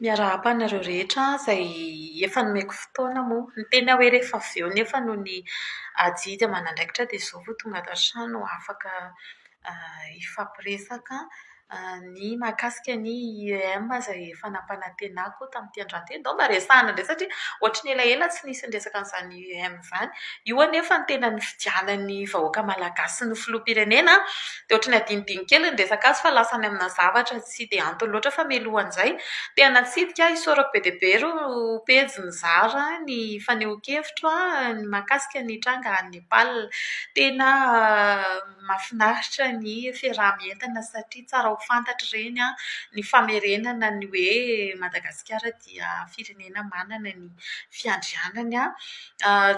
Miarahaba anareo rehetra izay efa nomeko fotoana moa. Ny tena hoe rehefa avy eo nefa noho ny adidy aman'andraikitra dia izao vao tonga ato an-trano afaka hifampiresaka ny mahakasika ny IEM izay efa nampanantenako tamin'ity androany ity. Ndao mba resahina indray satria ohatran'ny elaela tsy nisy niresaka an'izany. IEM izany. Io anefa no tena nifidianan'ny vahoaka malagasy ny filoham-pirenena. Dia ohatry ny adinodino kely ny resaka azy fa lasa any amina zavatra tsy dia antony loatra fa mialoha an'izay dia natsidika ahy isaorako be dia be ireo pejy nizara ny fanehoan-kevitro mahakasika ny tranga any Nepal. Tena mahafinaritra ny fiaraha-mientana satria tsara ho fantatra ireny ny famerenana ny hoe Madagasikara ity. dia firenena manana ny fiandrianany.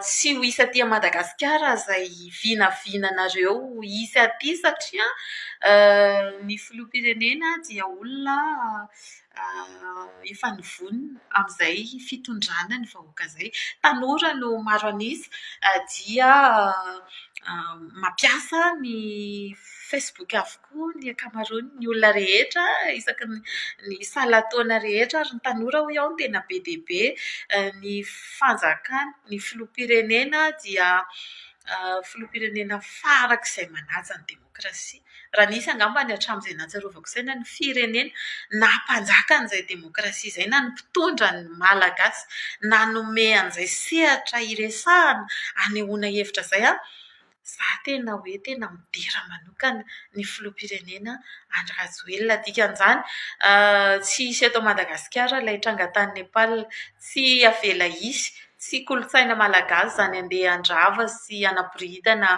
Tsy ho hisy aty Madagasikara izay vinavinanareo hisy aty satria ny filoham-pirenena dia olona efa nivonona amin'izay fitondrana ny vahoaka izay. Tanora no maro an'isa dia mampiasa ny Facebook avokoa. koa ny ankamaroan' ny olona rehetra isaky ny ny salan taona rehetra ary ny tanora hoy aho no tena be dia be ny fanjakana ny filoham pirenena dia filoham pirenena farak' izay manaja ny demokrasia raha nisy angamba ny hatram' izay nahatsiarovako saina ny firenena naha mpanjaka an' izay demokrasia izay na ny mpitondra ny malagasy nanome an' izay sehatra hiresahana hanehoana hevitra izay an Za tena hoe tena midera manokana ny filoham-pirenena Andry Rajoelina. Dikan'izany, tsy hisy eto Madagasikara ilay tranga tany Nepal. Tsy avela hisy. Tsy kolontsaina malagasy izany handeha handrava sy hanaboridana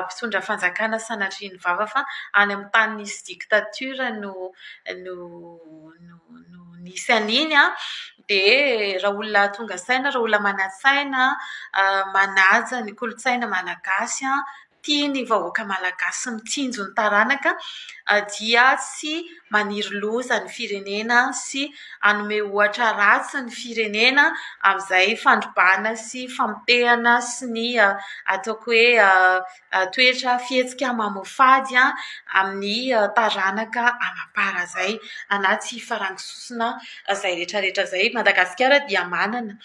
mpitondra fanjakana sanatria ny vava fa any amin'ny tany misy dictature no no no no nisy an'iny an, dia raha olona tonga saina, raha olona manan-tsaina, manaja ny kolontsaina malagasy, tia ny vahoaka malagasy, mitsinjo ny taranaka, dia tsy maniry loza ny firenena sy hanome ohatra ratsy ny firenena amin'izay fandrobana sy famotehana sy ny ataoko hoe toetra fihetsika mamoafady amin'ny taranaka amam-para izay anaty farango sosona izay rehetrarehetra izay. I Madagasikara dia manana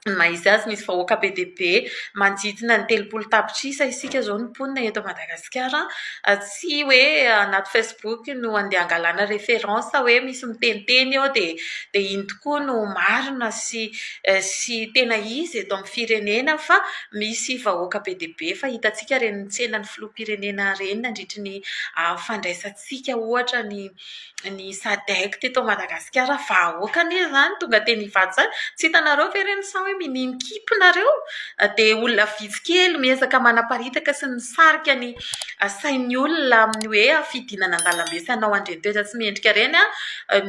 ny maha izy azy, misy vahoaka be dia be manodidina ny telopolo tapitrisa isika izao no mponina eto Madagasikara. Tsy hoe anaty Facebook no andeha hangalana référence hoe misy miteniteny eo dia dia iny tokoa no marina sy sy tena izy eto amintsika. firenena fa misy vahoaka be dia be fa hitantsika reny nitsena ny filoham-pirenena reny nandritry ny fandraisantsika ohatra ny ny sadec teto Madagasikara vahoaka anie izany tonga teny Ivato izany tsy hitanareo ve ireny sa hoe minimin-kimpy nareo dia olona vitsy kely miezaka manaparitaka sy nisarika ny sain'ny olona amin'ny hoe fidinana an-dalambe sy hanao andriantoetra tsy mendrika ireny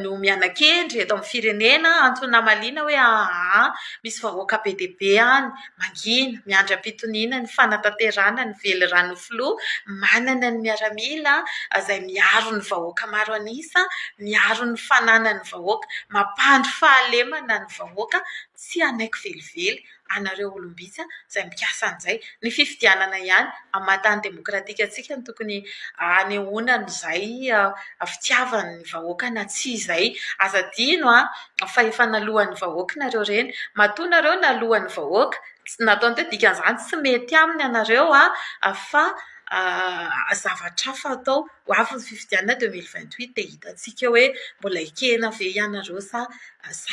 no miana-kendry eto amin'ny firenena antony namaliana hoe ahaa Misy vahoaka be dia be any mangina, miandry am-pitoniana ny fanatanterahana ny veliranon'ny filoha manana ny miaramila izay miaro ny vahoaka maro an'isa, miaro ny fananan'ny vahoaka, mampandry fahalemana ny vahoaka. Tsy hanaiky velively anareo olom-bitsy izay mikasa an'izay. Ny fifidianana ihany hamatan'ny demokratika antsika no tokony hanehoana an'izay fitiavan'ny vahoaka na tsia izay. Aza adino fa efa naloan'ny vahoaka nareo ireny, matoa nareo naloan'ny vahoaka, ny ataony teo dikan'izany tsy mety aminy ianareo fa zavatra hafa atao, ho avy ny fifidianana deux mille vingt huit dia hitantsika hoe mbola ekena ve ianareo sa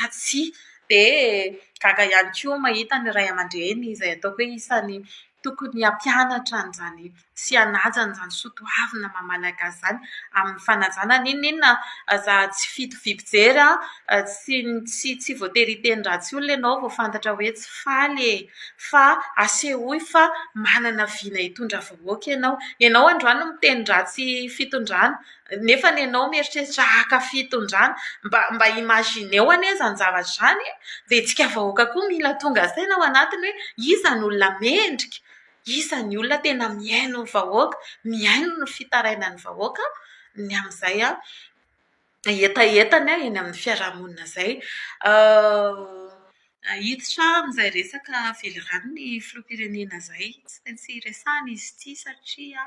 tsia, dia gaga ihany koa mahita ny ray aman-dreny izay ataoko hoe isan'ny Tokony hampianatra an'izany sy hanaja an'izany soatoavina maha malagasy izany amin'ny fanajana n'inon'inona aza tsy fito vy mpijery an, tsy tsy tsy voatery hiteny ratsy olona ianao vao fantatra hoe tsy faly e! fa asehoy fa manana vina hitondra vahoaka ianao, ianao androany miteny ratsy fitondrana Nefa ny anao mieritreritra haka fitondrana, mba mba imaginez-o anie izany zavatra izany e! Dia isika vahoaka koa mila tonga saina ao anatiny hoe iza ny olona mendrika, iza ny olona tena mihaino ny vahoaka, mihaino ny fitarainan'ny vahoaka ny amin'izay hetahetany eny amin'ny fiarahamonina izay. Hiditra amin'izay resaka velirano ny filoham-pirenena izay. Tsy maintsy resahina izy ity satria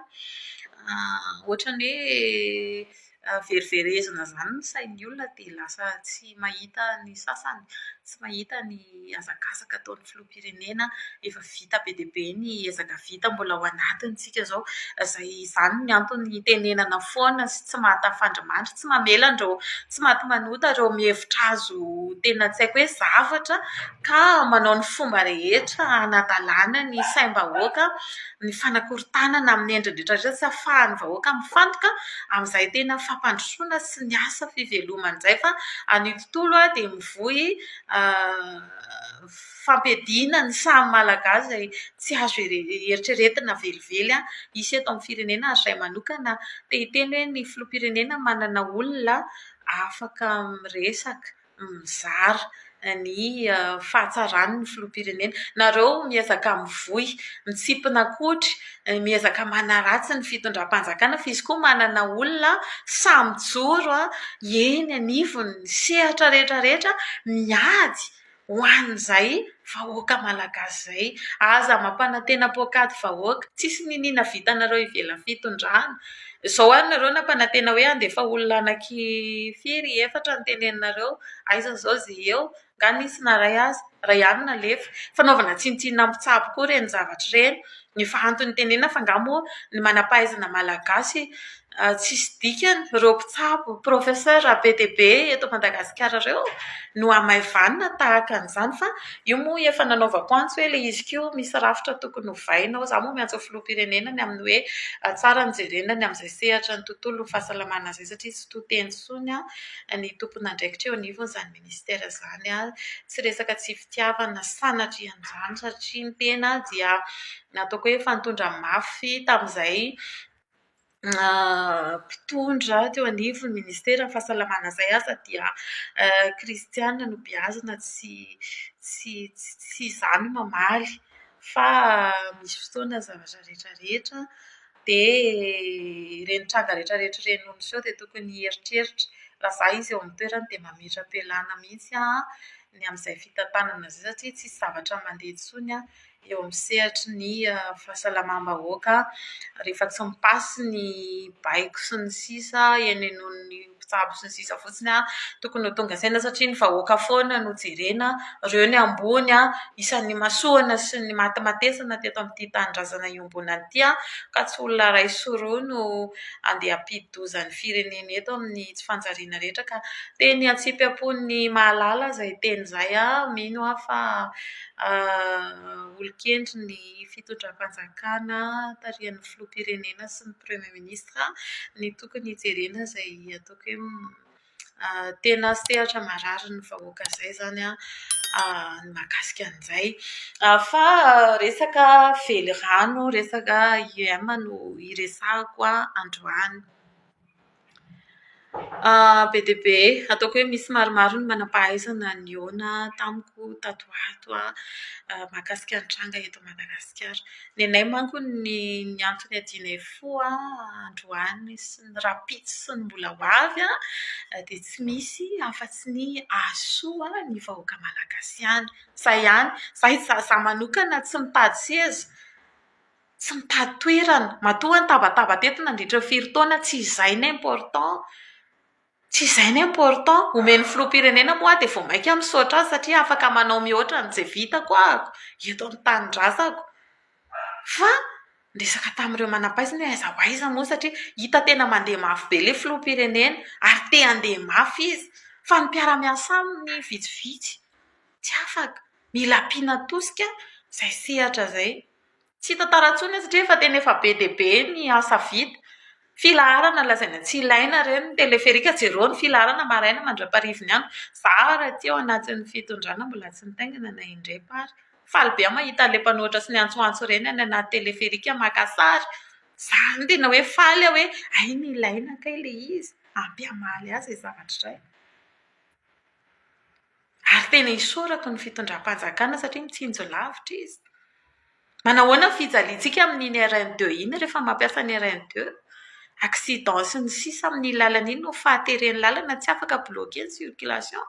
ohatran'ny hoe veriverezina izany ny sain'ny olona dia lasa tsy mahita ny sasany, tsy mahita ny hazakazaka ataon'ny filoham-pirenena efa vita. vita be dia be ny ezaka vita mbola ao anatintsika izao. Izay izany ny antony itenenana foana sy tsy mahatafandrimandry, tsy mamela an'ireo tsy maty manota ireo mihevitra azy ho tena tsy haiko hoe zavatra ka manao ny fomba rehetra hanadalana ny saim-bahoaka, ny fanakorontanana amin'ny endriny rehetra rehetra tsy ahafahan'ny vahoaka mifantoka amin'izay tena fampandrosoana sy ny asa fivelomany izay fa any tontolo dia mivoy fampiadiana ny saha malagasy izay tsy azo eritreretina velively hisy eto amin'ny firenena ary izay manokana te hiteny hoe ny filoham-pirenena manana olona afaka miresaka, mizara ny fahatsarany ny filoham-pirenena. Nareo miezaka mivoy mitsimpona kodry, miezaka manaratsy ny fitondram-panjakana fa izy koa manana olona sahy mijoro eny anivon'ny sehatra rehetra rehetra miady. ho an'izay vahoaka malagasy izay. Aza mampanantena poak'ady vahoaka. Tsisy niniana vitanareo ivelan'ny fitondrana. Izao ary nareo nampanantena hoe handefa olona anaky firy, efatra no teneninareo. Aiza izao izay eo? Nga nisy naray azy? Ray ihany nalefa. Fanaovana tsinontsinona mpitsabo koa ireny zavatra ireny. Ny fahanton'ny tenenina fa nga moa ny manampahaizana malagasy tsisy dikany reo mpitsabo professeur be dia be eto Madagasikara reo no hamaivanina tahaka an'izany fa io moa efa nanaovako antso hoe le izy ko misy rafitra tokony hovaina ao za moa miantso ny filoham-pirenena ny amin'ny hoe tsara ny jerena ny amin'izay sehatra ny tontolo ny fahasalamana izay satria tsy to teny intsony ny tompon'andraikitra eo anivon'izany Mister izany ary tsy resaka tsy fitiavana sanatria an'izany satria ny tena dia ataoko hoe efa nitondra mafy tamin'izay mpitondra teo anivon'ny ministeran'ny fahasalamana izay aza dia kristiana no beazina tsy tsy tsy izany mamaly fa misy fotoana ny zavatra rehetra rehetra dia ireny tranga rehetra rehetra ireny no niseho dia tokony hieritreritra. Raha izaho izy eo amin'ny toerany dia mametra-pialàna mihitsy aho ny amin'izay fitantanana izay satria tsy misy zavatra mandeha intsony eo amin'ny sehatry ny fahasalamam-bahoaka rehefa tsy mi-pass ny baiko sy ny sisa eny anivon'ny mpitsabo sy ny sisa fotsiny an, tokony ho tonga saina satria ny vahoaka foana no jerena, ireo ny ambony an, isan'ny nimasoana sy nimatimatesana teto amin'ity tanindrazana iombonana ity an, ka tsy olona iray sy roa no andeha hampidi-doza ny firenena eto amin'ny tsy fanjariana rehetra ka teny antsipiham-pon'ny mahalala izay teny izay an, mino aho fa olon-kendry ny fitondram-panjakana tarihan'ny filoham-pirenena sy ny premier ministra. Minisitra ny tokony hijerena izay ataoko hoe tena sehatra mararin'ny vahoaka izay izany an, ny mahakasika an'izay. Fa resaka velirano, resaka IEM no iresahako androany. Be dia be, ataoko hoe misy maromaro ny manam-pahaizana nihaona tamiko tato ho ato mahakasika ny tranga eto Madagasikara. Nenay manko ny antony niadianay fo androany sy ny rahampitso sy ny mbola ho avy an, dia tsy misy afa-tsy ny hahasoa ny vahoaka malagasy ihany. Izay ihany. Izaho manokana tsy mitady seza. tsy mitady toerana, matoa aho nitabataba teto nandritra ny firy taona, tsy izay no important, tsy izay no important, omen'ny filoham-pirenena moa aho dia vao mainka misaotra azy satria afaka manao mihoatra an'izay vitako aho eto amin'ny tanindrazako, fa ny resaka tamin'ireo manam-pahaizana hoe aiza ho aiza moa satria hita tena mandeha mafy be ilay filoham-pirenena ary te handeha mafy izy, fa ny mpiara-miasa aminy vitsivitsy, tsy afaka, mila ampiana tosika izay sehatra izay. Tsy hita tara intsony io satria efa tena efa be dia be ny asa vita. Filaharana lazaina tsy ilaina ireny ny teleferika, jereo ny filaharana maraina mandra-parivin'ny andro. Izaho ary aty ao anatin'ny fitondrana mbola tsy nitaingina na indray pa ary. Faly be aho mahita an'ilay mpanohitra sy ny antsoantso ireny any anaty teleferika maka sary. Izaho no tena hoe faly aho hoe hay ny ilaina kay ilay izy, ampy hamaly azy izay zavatra izay. Ary tena isaorako ny fitondram-panjakana satria mitsinjo lavitra izy. Manahoana ny fijaliantsika amin'iny RN deux iny rehefa mampiasa ny RN deux? Accident sy ny sisa amin'iny lalana iny no fahateren'ny lalana tsy afaka bloquer ny circulation.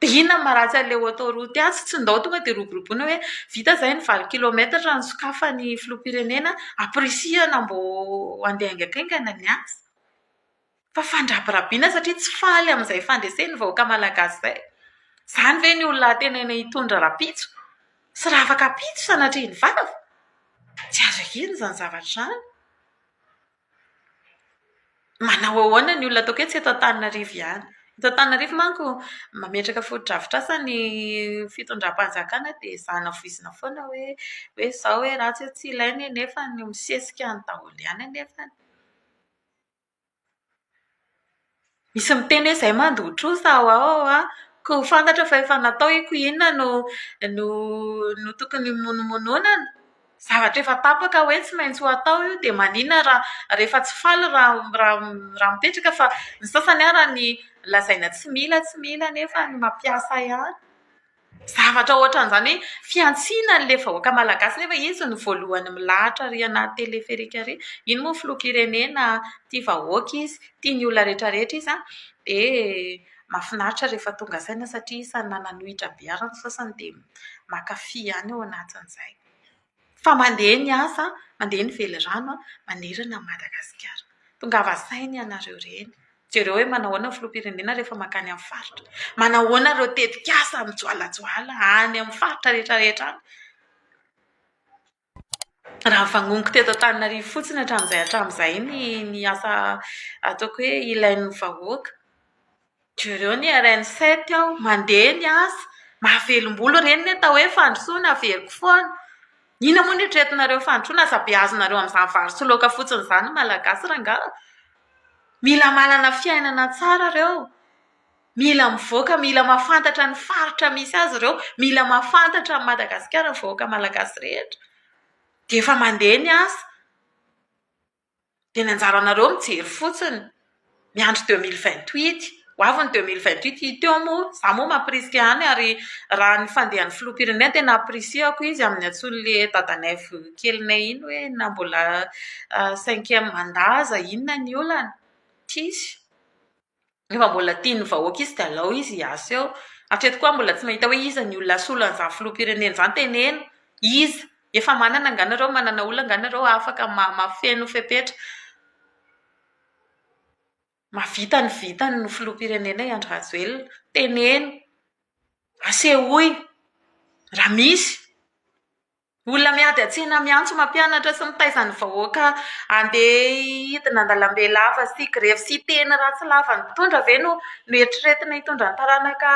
Dia inona no maharatsy an'ilay autoroute azy? Tsy ndao tonga dia roboroboina hoe vita izay ny valo kilometatra raha nosokafan'ny filoham-pirenena, ampirisihana mba handeha haingakaingana ny asa. Fa fandrabirabiana satria tsy faly amin'izay fandresen'ny vahoaka malagasy izay. Izany ve ny olona antenaina hitondra rahampitso sy raha afaka hampitso sanatria ny vava? Tsy azo ekena izany zavatra izany. Manao ahoana ny olona ataoko hoe tsy eto Antananarivo ihany. Eto Antananarivo manko mametraka fotodrafitrasa ny fitondram-panjakana dia izany havoizina foana hoe hoe izao hoe ratsy hoe tsy ilaina e nefa ny misesika ny daholo ihany anefany. Misy miteny hoe izay mandoa trosa ao ho ao an! Koa ho fantatra fa efa natao io koa inona no no no tokony himonomononana? Zavatra efa tapaka hoe tsy maintsy ho atao io dia maninona raha rehefa tsy faly raha raha mipetraka fa ny sasany ary lazaina tsy mila tsy mila nefa ny mampiasa ihany. Zavatra ohatran'izany hoe fihantsiana an'ilay vahoaka malagasy nefa izy no voalohany milahatra ary anaty teleferika ary. Iny moa filoham-pirenena tia vahoaka izy, tia ny olona rehetra rehetra izy dia mahafinaritra rehefa tonga saina satria isan'ny nananohitra be ary ny sasany dia mankafy ihany ao anatin'izay. fa mandeha ny asa, mandeha ny velirano manerana an'i Madagasikara. Tongava saina ianareo reny. Jereo hoe manao ahoana ny filoham-pirenena rehefa mankany amin'ny faritra. Manao ahoana ireo tetikasa mijoalajoala any amin'ny faritra rehetrarehetra any. Raha ny vanomiko teto Antananarivo fotsiny hatramin'izay hatramin'izay ny asa ataoko hoe ilain'ny vahoaka. Jereo ny RN sept ao, mandeha ny asa, mahavelom-bolo ireny ny atao hoe fandrosoana, averiko foana. Inona moa no eritreretinareo ho fandrosoana? Aza beazonareo amin'izany vary sy laoka fotsiny izany ny Malagasy rangahy ô! Mila manana fiainana tsara ireo, mila mivoaka, mila mahafantatra ny faritra misy azy ireo, mila mahafantatra an'i Madagasikara ny vahoaka malagasy rehetra, dia efa mandeha ny asa. Dia ny anjaranareo mijery fotsiny, miandry deux mille vingt huit. Ho avy ny deux mille vingt huit. Hita eo moa. Izaho moa mampirisika ihany ary raha ny fandehan'ny filoham-pirenena dia nampirisihako izy amin'ny antsoin'ilay dadanay kelinay iny hoe na mbola cinquième mandat aza inona ny olana. Tsisy. Rehefa mbola tian'ny vahoaka izy dia alao izy hiasa eo. Hatreto koa aho mbola tsy mahita hoe iza ny olona asolo an'izany filoham-pirenena izany. Teneno! Iza? Efa manana angaha nareo? Manana olona angaha nareo afaka mahafeno fepetra? Mahavita ny vitany ny filoham-pirenena i Andry Rajoelina. Teneno! Asehoy raha misy! Olona miady an-tsena miantso mampianatra sy mitaiza ny vahoaka handeha hidina an-dalambe lava sy grevy sy hiteny ratsy lavan'ny mpitondra ve no noeritreretina hitondra ny taranaka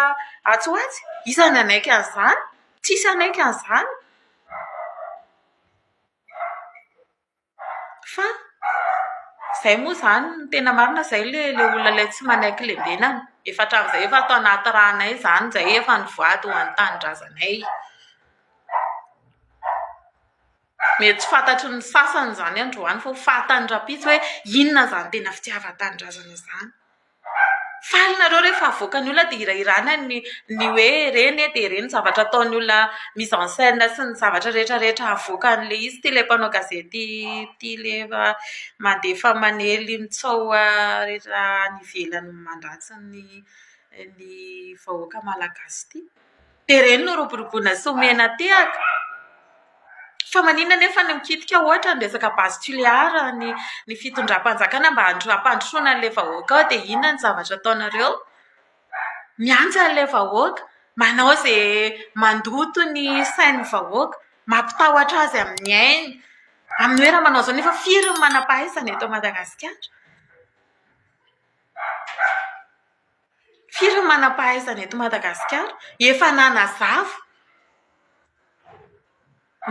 atsy ho atsy? Iza no hanaiky an'izany? Tsisy hanaiky an'izany. Fa izay moa izany, ny tena marina izay ilay ilay olona ilay tsy manaiky lembenana. Efa hatramin'izay efa ato anaty ranay izany izay efa nivady ho an'ny tanindrazanay. Mety tsy fantatry ny sasany izany androany fa ho fantany rahampitso hoe inona izany tena fitiavan-tanindrazana izany. Faly nareo rehefa avoakan'ny olona dia hirahirana ny ny hoe ireny e dia ireny zavatra ataon'ny olona mise en scène sy ny zavatra rehetra rehetra avoakan'ilay izy ity ilay mpanao gazety ity ilay efa mandefa manely mitsaoa rehetra any ivelany mandratsy ny ny vahoaka malagasy ity. Dia ireny no roboroboana sy omena tehaka. Fa maninona anefa no mikitika ohatra ny resaka base tulear ny ny fitondram-panjakana mba handro- hampandrosoana an'ilay vahoaka ao dia inona ny zavatra ataonareo? Miantsa an'ilay vahoaka, manao izay mandoto ny sain'ny vahoaka, mampitahotra azy amin'ny ainy. Amin'ny hoe raha manao izao nefa firy ny manam-pahaizana eto Madagasikara? Firy ny manam-pahaizana eto Madagasikara efa nanazava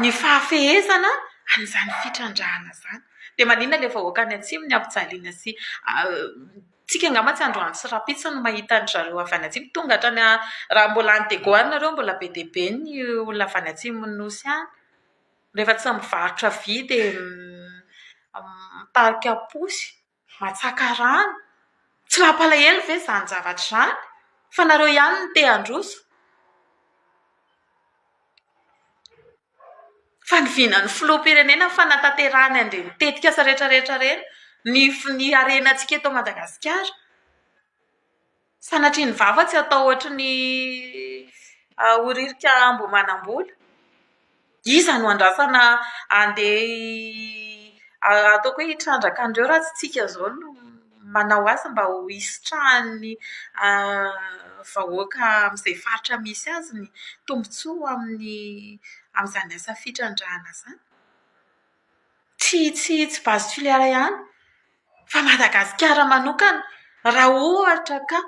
ny fahafehezana an'izany fitrandrahana izany. Dia maninona ilay vahoaka any atsimo ny hampijaliana sy tsika angamba tsy androany sy rahampitso no mahita an-dry zareo avy any atsimo tonga hatrany raha mbola any Diego any nareo mbola be dia be ny olona avy any atsimon'ny nosy any rehefa tsy mivarotra vy dia mitarika posy. Matsaka rano? Tsy mampalahelo ve izany zavatra izany? Fa nareo ihany no te handroso. Fa ny vinan'ny filoham-pirenena fanatanterahany an'ireny tetikasa rehetra rehetra ireny ny ny harenantsika eto Madagasikara. Sanatria ny vava tsy atao ohatry ny horirika amboa manam-bola. Iza no andrasana handeha ataoko hoe hitrandraka an'ireo raha tsy isika izao no manao azy mba ho hisitrahan'ny vahoaka amin'izay faritra misy azy ny tombontsoa amin'ny amin'izany asa fitrandrahana izany? tsy tsy tsy base filière ihany fa Madagasikara manokana raha ohatra ka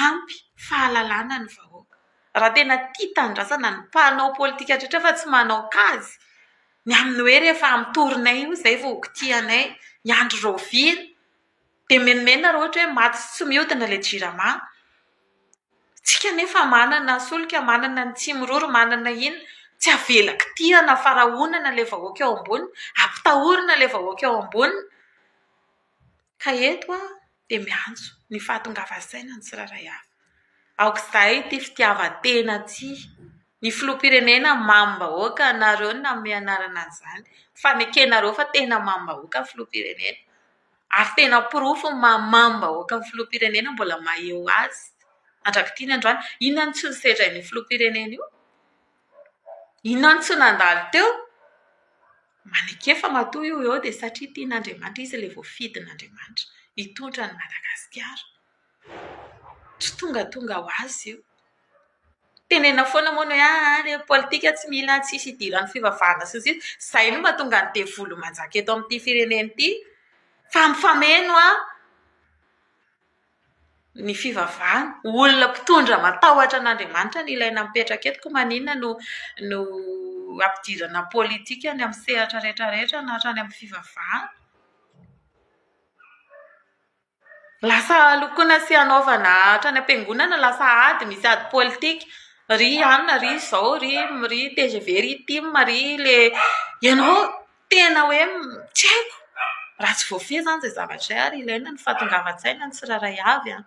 ampy fahalalana ny vahoaka. Raha tena tia tanindrazana ny mpanao politika rehetra fa tsy manao kajy ny amin'ny hoe rehefa amin'ny tory-nay io izay vao ho kitihanay ny andro rahoviana. Dia menomenona raha ohatra hoe maty sy tsy mihodina ilay jirama. Isika anefa manana solika, manana ny tsimiroro, manana iny. Tsy avela kitihana fa rahonana ilay vahoaka eo ambony, ampitahorina ilay vahoaka eo ambony. Ka eto aho dia miantso ny fahatongavan-tsaina ny tsirairay avy. Aoka izay ity fitiavan-tena ity. Ny filoham-pirenena mamim-bahoaka, ianareo no nanome anarana an'izany. Fanekenareo fa tena mamim-bahoaka ny filoham-pirenena. Ary tena porofo ny maha mamim-bahoaka ny filoham-pirenena mbola maha eo azy mandrak'ity ny androany. Inona no tsy nosedra an'io filoham-pirenena io? Inona no tsy nandalo teo? Maneke fa matoa io eo dia satria tian'Andriamanitra izy ilay voafidin'Andriamanitra hitondra an'i Madagasikara. Tsy tongatonga ho azy io. Tenenina foana moa ny hoe ahy ny politika tsy mila tsisy idiran'ny fivavahana sy ny sisa. Izay no mahatonga ny devoly manjaka eto amin'ity firenena ity fa mifameno ny fivavahana. Olona mpitondra matahotra an'Andriamanitra no ilaina mipetraka eto koa maninona no no ampidirana politika any amin'ny sehatra rehetra rehetra na hatrany amin'ny fivavahana. Lasa lokoina sy hanaovana hatrany am-piangonana lasa ady, misy ady politika. Ry anona, ry izao, ry ry tgv, ry tim, ry le ianao tena hoe tsy haiko. Raha tsy voafehy izany izay zavatra izay ary ilaina ny fahatongavan-tsaina ny tsirairay avy an!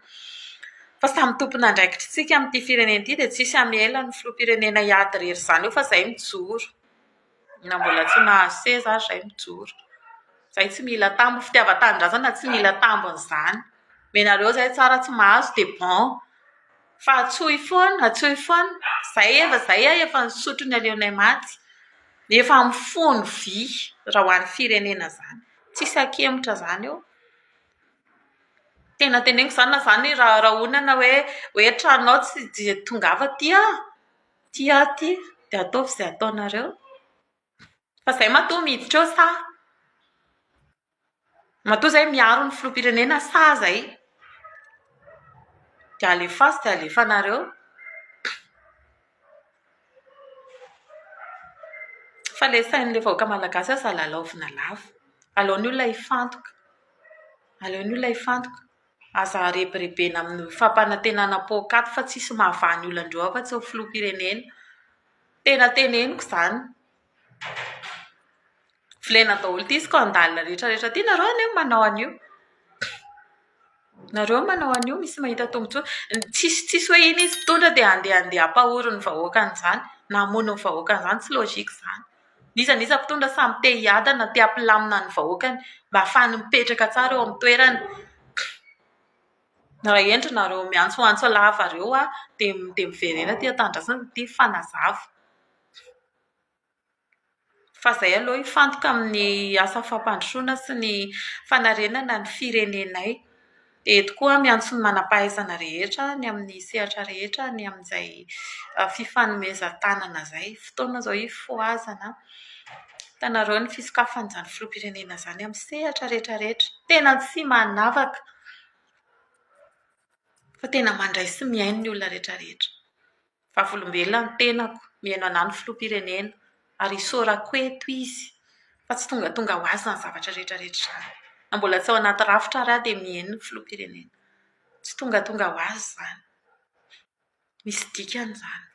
Fa samy tompon'andraikitra isika amin'ity firenena ity dia tsy hisy hamela ny filoham-pirenena hiady irery izany eo fa izay mijoro. Na mbola tsy nahazo seza ary izay mijoro. Izay tsy mila tambo, fitiavan-tanindrazana tsy mila tambiny izany. Menareo izay tsara tsy mahazo dia bon. Fa antsoy foana, antsoy foana. Izay efa, izay aho efa nisotro ny aleonay maty. Efa mifono vy raha ho an'ny firenena izany. Tsisy ankemotra izany eo. Tena teneniko izany na izany rahonana hoe hoe tranonao tsy dia tongava aty aho. Tia aho ity dia ataovy izay ataonareo. Fa izay matoa miditra eo sa? Matoa izay miaro ny filoham-pirenena sa izay? Dia alefaso dia alefanareo. Fa ilay sain'ilay vahoaka malagasy aza lalaovina lava. Aleon'ny olona hifantoka. Aleon'ny olona hifantoka. Aza arebirebena amin'ny fampanantenana poakaty fa tsisy mahavaha ny olandreo afa tsy ny filoham-pirenena. Tena teneniko izany. Volena daholo ity izy ka handalina rehetrarehetra ity. Nareo anie no manao an'io. Nareo no manao an'io misy mahita tombontsoa. Tsisy tsisy hoe iny izy mpitondra dia andeha andeha hampahory ny vahoaka an'izany na hamono ny vahoaka an'izany. Tsy logique izany. N'iza n'iza mpitondra samy te hiadana, te hampilamina ny vahoakany mba hahafahany mipetraka tsara eo amin'ny toerany. Raha hendry nareo miantsoantso lava ireo aho dia dia miverena aty an-tanindrazana ity fanazava. Fa izay aloha hifantoka amin'ny asa fampandrosoana sy ny fanarenana ny firenenay. Eto koa miantso ny manam-pahaizana rehetra any amin'ny sehatra rehetra ny amin'izay fifanomezan-tanana izay. Fotoana izao hifohazana an! Hitanareo ny fisokafan'izany filoham-pirenena izany amin'ny sehatra rehetrarehetra. Tena tsy manavaka fa tena mandray sy mihaino ny olona rehetrarehetra. Vavolombelona ny tenako, mihaino anà ny Filoham-pirenena, ary isaorako eto izy fa tsy tongatonga ho azy izany zavatra rehetra rehetra izany. Na mbola tsy ao anaty rafitra ary aho dia mihaino ny Filoham-pirenena. Tsy tongatonga ho azy izany. Misy dikany izany.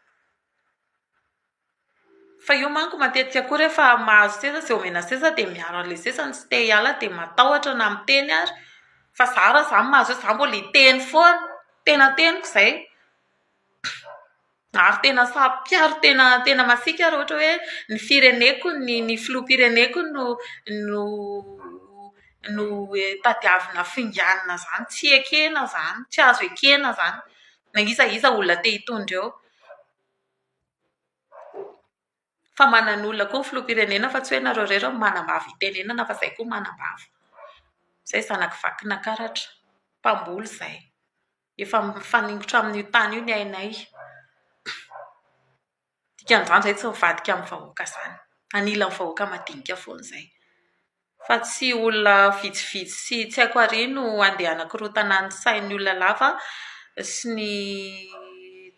Fa io manko matetika koa rehefa mahazo seza sy omena seza dia miaro an'ilay seza ny tsy te hiala dia matahotra na miteny ary, fa za raha za no mahazo seza za mbola hiteny foana, tena teniko izay, ary tena saro-piaro tena tena masiaka ary ohatra hoe ny fireneko ny ny filoham-pireneko no no no hoe tadiavina finganina izany, tsy ekena izany, tsy azo ekena izany, na iza iza olona te hitondra eo. Fa manan'olona koa ny filoham-pirenena fa tsy hoe ianareo irery no manam-bava itenenana fa izay koa manam-bava. Izay zanak'i vakina karatra, mpamboly izay. Efa mifaningotra amin'io tany io ny ainay. Dikan'izany izahay tsy mivadika amin'ny vahoaka izany. Anilan'ny vahoaka madinika foana izay. fa tsy olona vitsivitsy sy tsy haiko àry no handeha hanakorotana ny sain'ny olona lava sy ny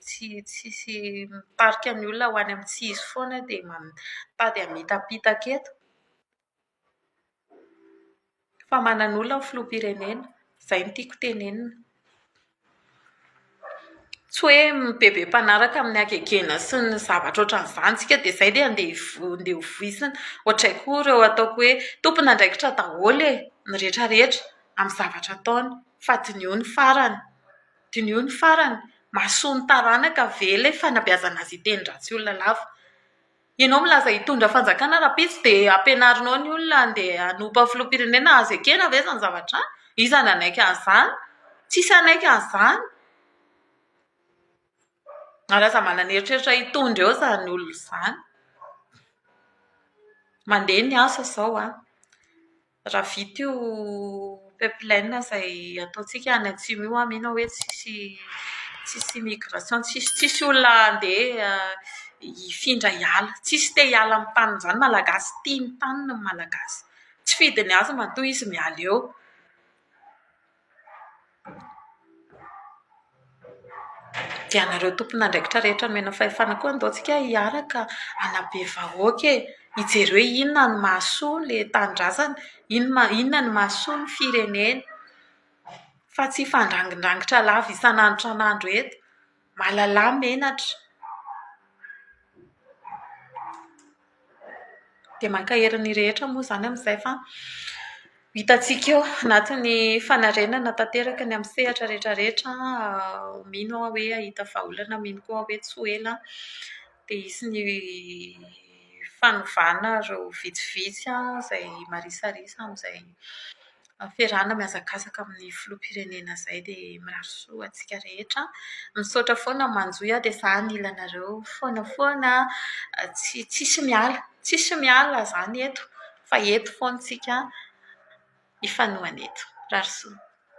tsy tsisy mitarika ny olona ho any amin'ny tsy izy foana dia mitady hamitapitaka eto. Fa manana olona ny filoham-pirenena. Izay no tiako tenenina. Tsy hoe be be mpanaraka amin'ny hagegena sy ny zavatra ohatran'izany isika dia izay dia andeha hivo- andeha ho voizina. Ohatray koa ireo ataoko hoe tompon'andraikitra daholo e, ny rehetra rehetra amin'ny zavatra ataony fa diniho ny farany. Diniho ny farany. Mahasoa ny taranaka ve ilay fanabeazana azy hiteny ratsy olona lava? Ianao milaza hitondra fanjakana rahampitso dia ampianarinao ny olona handeha hanompa filoham-pirenena azo ekena ve izany zavatra izany? Iza no hanaiky an'izany? Tsisy hanaiky an'izany. Ary aza manana eritreritra hitondra eo izany olona izany. Mandeha ny asa izao an! Raha vita io pipeline izay ataontsika any atsimo io aho mino aho hoe tsisy tsisy migration, tsisy tsisy olona handeha hifindra hiala. Tsisy te hiala amin'ny taniny izany ny Malagasy, tia ny taniny ny Malagasy. Tsy fidiny azy matoa izy miala eo. Dia ianareo tompon'andraikitra rehetra nomena fahefana koa andao tsika hiaraka hanabe vahoaka e! Hijery hoe inona no mahasoa ilay tanindrazana, inona inona no mahasoa ny firenena. Fa tsy hifandrangindrangotra lava isan'andro isan'andro eto. Malala menatra. Dia mankahery ny rehetra moa izany amin'izay fa hitantsika eo anatin'ny fanarenana tanteraka ny amin'ny sehatra rehetra rehetra, mino aho hoe hahita vahaolana, mino koa aho hoe tsy ho ela dia hisy ny fanovana ireo vitsivitsy izay marisarisa amin'izay. Fiarahana mihazakazaka amin'ny filoham-pirenena izay dia mirary soa ho antsika rehetra. Misaotra foana Manjohy a, dia izaho nila anareo foana foana, tsy tsisy miala, tsisy miala izany eto fa eto foana isika hifanohana eto. Mirary soa.